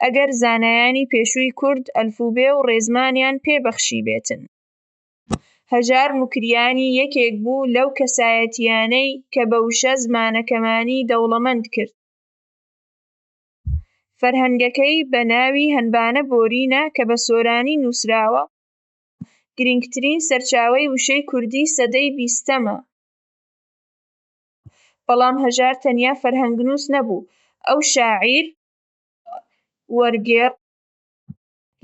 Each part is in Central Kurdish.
ئەگەر زانایانی پێشووی کورد ئەلفوبێ و ڕێزمانیان پێ بەخشیبێتن. هەژار موکریانی یەکێک بوو لەو کەسایەتییانەی کە بە وشە زمانەکەمانی دەوڵەمەند کرد. فەرهەنگەکەی بە ناوی هەنبانە بۆرینە کە بە سۆرانی نووسراوە، گرینگترین سەرچاوەی وشەی کوردی سەدەی بیستەمە. بەڵام هەژار تەنیا فەرهەنگنووس نەبوو، ئەو شاعیر، وەرگێڕ،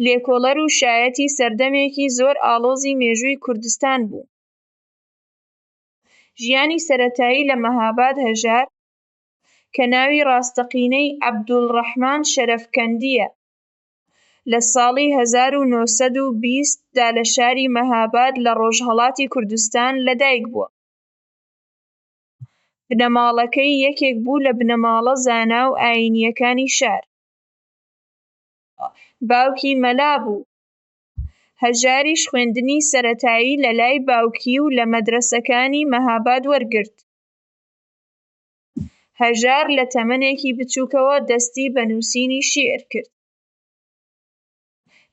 لێکۆڵەر و شایەتی سەردەمێکی زۆر ئاڵۆزی مێژووی کوردستان بوو. ژیانی سەرەتایی لە مەهاباد هەژار، کە ناوی ڕاستەقینەی عەبدولڕەحمان شەرەفکەندییە، لە ساڵی هەزار و نۆ سەد و بیست دا لە شاری مەهاباد لە ڕۆژهەڵاتی کوردستان لەدایکبووە. بنەماڵەکەی یەکێک بوو لە بنەماڵە زانا و ئایینییەکانی شار. باوکی مەلا بوو، هەژاریش خوێندنی سەرەتایی لە لای باوکی و لە مەدرەسەکانی مەهاباد وەرگرت. هەژار لە تەمەنێکی بچووکەوە دەستی بە نووسینی شیعر کرد.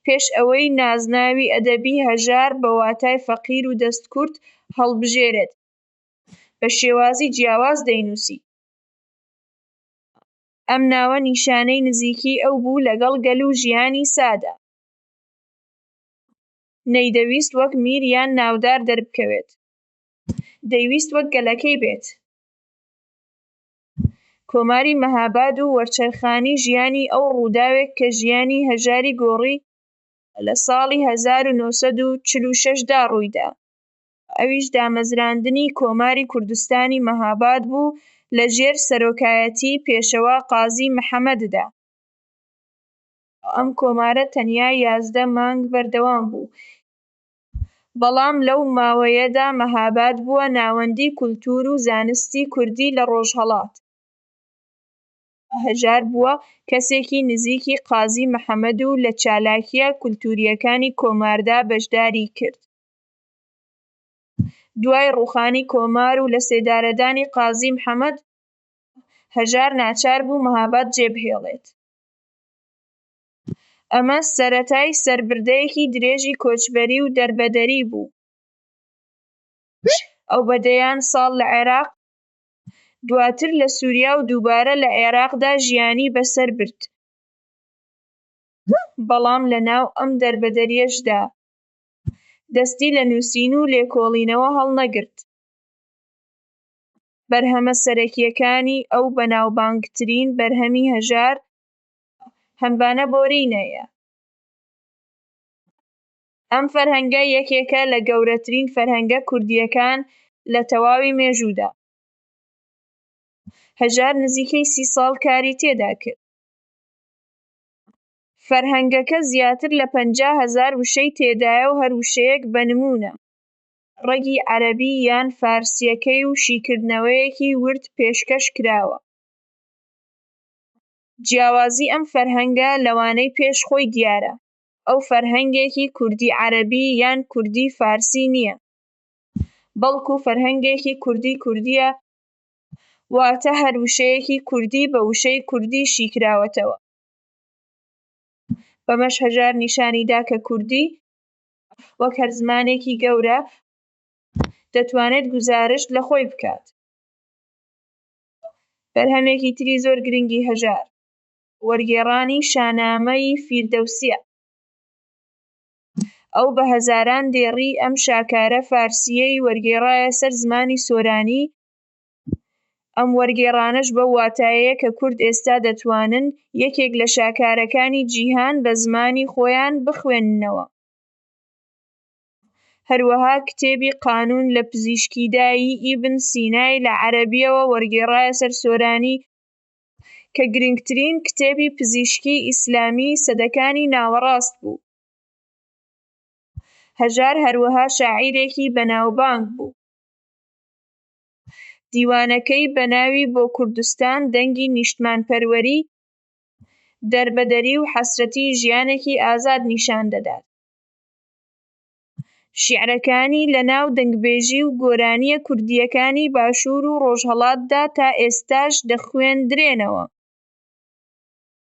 پێش ئەوەی نازناوی ئەدەبی هەژار بە واتای فەقیر و دەستکورت هەڵبژێرێت، بە شێوازی جیاواز دەینووسی. ئەم ناوە نیشانەی نزیکی ئەو بوو لەگەڵ گەل و ژیانی سادە. نەیدەویست وەک میر یان ناودار دەربکەوێت. دەیویست وەک گەلەکەی بێت. کۆماری مەهاباد و وەرچەرخانی ژیانی ئەو ڕووداوێک کە ژیانی هەژاری گۆڕی لە ساڵی هەزار و نۆ سەد و چل و شەش دا ڕوویدا. ئەویش دامەزراندنی کۆماری کوردستانی مهاباد بوو لە ژێر سەرۆکایەتیی پێشەوا قازی محەمەددا. ئەم کۆمارە تەنیا یازدە مانگ بەردەوام بوو، بەڵام لەو ماوەیەدا مهاباد بووە ناوەندی کولتوور و زانستی کوردی لە ڕۆژهەڵات. هەژار بووە کەسێکی نزیکی قازی محەمەد و لە چالاکییە کولتوورییەکانی کۆماردا بەشداری کرد. دوای ڕووخانی کۆمار و لە سێدارەدانی قازی محەمەد هەژار ناچار بوو مەهاباد جێبهێڵێت. ئەمە سەرەتای سەربردەیەکی درێژی کۆچبەری و دەربەدەری بوو. ئەو بە دەیان ساڵ لە عێراق، دواتر لە سووریا و دووبارە لە عێراقدا ژیانی بەسەر برد، بەڵام لەناو ئەم دەربەدەرییەشدا دەستی لە نووسین و لێکۆڵینەوە هەڵنەگرت. بەرهەمە سەرەکییەکانی ئەو بەناوبانگترین بەرهەمی هەژار هەمڤانە بۆرینە یە. ئەم فەرهەنگە یەکێکە لە گەورەترین فەرهەنگە کوردییەکان لە تەواوی مێژوودا. هەژار نزیکەی سی ساڵ کاری تێدا کرد. فەرهەنگەکە زیاتر لە پەنجا هەزار وشەی تێدایە و هەر وشەیەک بە نموونە، ڕەگی عەرەبی یان فارسییەکەی و شیکردنەوەیەکی ورد پێشکەش کراوە. جیاوازی ئەم فەرهەنگە لەوانەی پێش خۆی دیارە، ئەو فەرهەنگێکی کوردی عەرەبی یان کوردی فارسی نییە، بەڵکوو فەرهەنگێکی کوردی کوردییە، واتە هەر وشەیەکی کوردی بە وشەی کوردی شیکراوەتەوە. بەمەش هەژار نیشانی دا کە کوردی وەک هەر زمانێکی گەورە دەتوانێت گوزارشت لە خۆی بکات. بەرهەمێکی تری زۆر گرنگی هەژار، وەرگێڕانی شانامەی فیردەوسییە. ئەو بە هەزاران دێڕی ئەم شاکارە فارسییەی وەرگێڕایە سەر زمانی سۆرانی ئەم وەرگێڕانەش بەو واتایەیە کە کورد ئێستا دەتوانن یەکێک لە شاکارەکانی جیهان بە زمانی خۆیان بخوێننەوە. هەروەها کتێبی قانون لە پزیشکیدا ی ئیبن سینای لە عەرەبییەوە وەرگێڕایە سەر سۆرانی، کە گرنگترین کتێبی پزیشکیی ئیسلامیی سەدەکانی ناوەڕاست بوو. هەژار هەروەها شاعیرێکی بەناوبانگ بوو. دیوانەکەی بە ناوی بۆ کوردستان دەنگی نیشتمانپەروەری، دەربەدەری و حەسرەتی ژیانێکی ئازاد نیشان دەدات. شیعرەکانی لە ناو دەنگبێژی و گۆرانییە کوردییەکانی باشوور و ڕۆژهەڵاتدا تا ئێستاش دەخوێندرێنەوە.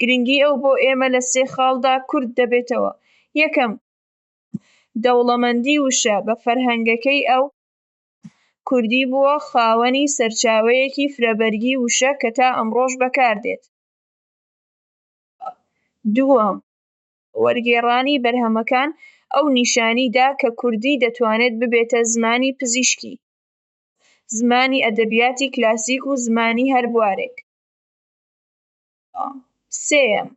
گرنگی ئەو بۆ ئێمە لە سێ خاڵدا کورت دەبێتەوە، یەکەم، دەوڵەمەندی وشە بە فەرهەنگەکەی ئەو، کوردی بووە خاوەنی سەرچاوەیەکی فرەبەرگی وشە کە تا ئەمڕۆش بەکاردێت، دووەم، وەرگێڕانی بەرهەمەکان ئەو نیشانی دا کە کوردی دەتوانێت ببێتە زمانی پزیشکی، زمانی ئەدەبیاتی کلاسیک و زمانی هەر بوارێک. سێیەم،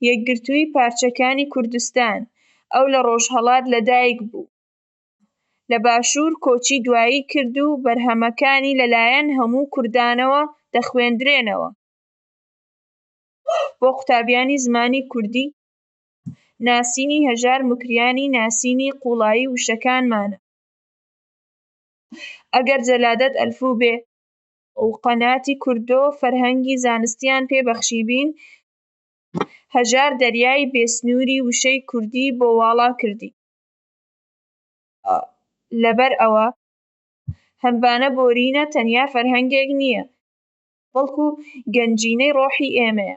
یەکگرتوویی پارچەکانی کوردستان، ئەو لە ڕۆژهەڵات لە دایک بوو، لە باشوور کۆچی دوایی کرد و بەرهەمەکانی لە لایەن هەموو کوردانەوە دەخوێندرێنەوە بۆ قوتابیانی زمانی کوردی، ناسینی هەژار موکریانی ناسینی قووڵایی وشەکانمانە. ئەگەر جەلادەت ئەلفو بێ و قەناتی کوردۆ فەرهەنگی زانستیان پێ بەخشیبین هەژار دەریای بێ سنوری وشەی کوردی بۆ واڵا کردی لەبەر ئەوە هەمبانە بۆرینە تەنیا فەرهەنگێک نیە بەڵکو گەنجینەی ڕۆحی ئێمەیە.